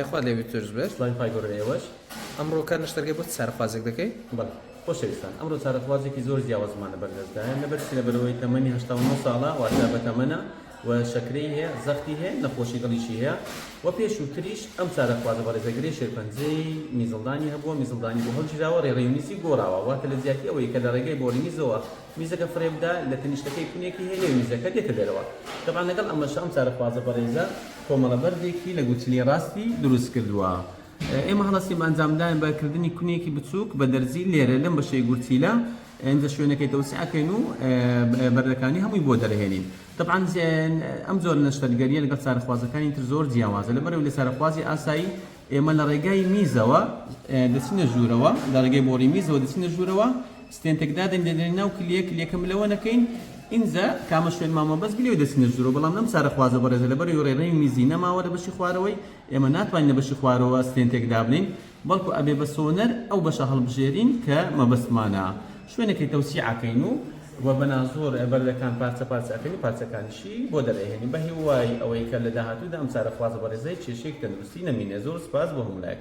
خوا لێ بی تورز بێت. سڵاوی خوای گەورە لە ئێوەش. ئەمڕۆ کار نەشتەرگەر بۆ چ چارەخوازێک دەکەی؟ بەڵێ خۆشەویستان ئەمڕۆ چارەخوازێکی زۆر جیاوازمان لە بەردەستدایە نە بەرچی لەبەرئەوەی تەمەنی هەشتا و نۆ ساڵە واتە بەتەمەنە و شەکرەی هەیە زەختی هەیە نەخۆشی دڵیشی هەیە و پێشووتریش ئەم چارەخوازە بەڕێزە گرێ شێرپەنجەی میزڵدانی هەبووە میزڵدانی بۆ هەڵگیراوە رێڕەوی میزی گۆڕاوە واتە لە جیاتی ئەوەی کە لە رێگای بۆڕی میزەوە میزەکە فڕێ بدە، لە تەنیشتەکەی کونێکی هەیە لێ میزەکە دێتە دەرەوە. تەبعەن لەگەڵ ئەمەشا ئەم چارەخوازە بەڕێزە کۆمەڵە بەردێکی لە گورچیلەی ڕاستی دروست کردووە. ئێمە هەڵەسینی ئەنجامداین بە کردنی کونێکی بچووک بە دەرزی لێرە لەم بەشەی گورچیلە، ئینجا شوێنەکەی تەوسیع ئەکەین و بەردەکانی هەمووی بۆ دەرئەهێنین. تەبعەن ئەم جۆرە نەشتەرگەرییە لەگەڵ چارەخوازەکانی تر زۆر جیاوازە، لەبەرئەوەی لە چارەخوازی ئاسایی ئێمە لە ڕێگای میزەوە دەچینە ژوورەوە، لە ڕێگای بۆڕی میزەوە دەچینە ژوورەوە، ستێنتێک دادەنێین، دەدەینە ناو کلیە، کلیەکە ملەوە نەکەین، ئینجا کامە شوێن مامەوە بەس بلەوەی دەچینە ژوورەوە، بەڵام لەم چارەخوازە بەڕێزە لەبەرئەوەی ڕێڕەوی میزی نەماوە لە بەشی خوارەوەی، ئێمە ناتوانین لە بەشی خوارەوە ستێنتێک دابنێین، بەڵکو ئەبێ بە سۆنەر ئەو بەشە هەڵبژێرین کە مەبەستمانە شوێنێکی تەوسیع ئەکەین و و بە نازوور بەردەکان پارچە پارچە ئەکەین و پارچەکانیشی بۆ دەرئەهێنین بە هیوای ئەوەی کە لە داهاتوودا ئەم چارەخوازە بەڕێزە هیچ کێشەیەکی تەندروستی نەمینێ زۆر سوپاس بۆ هەموو لایەک.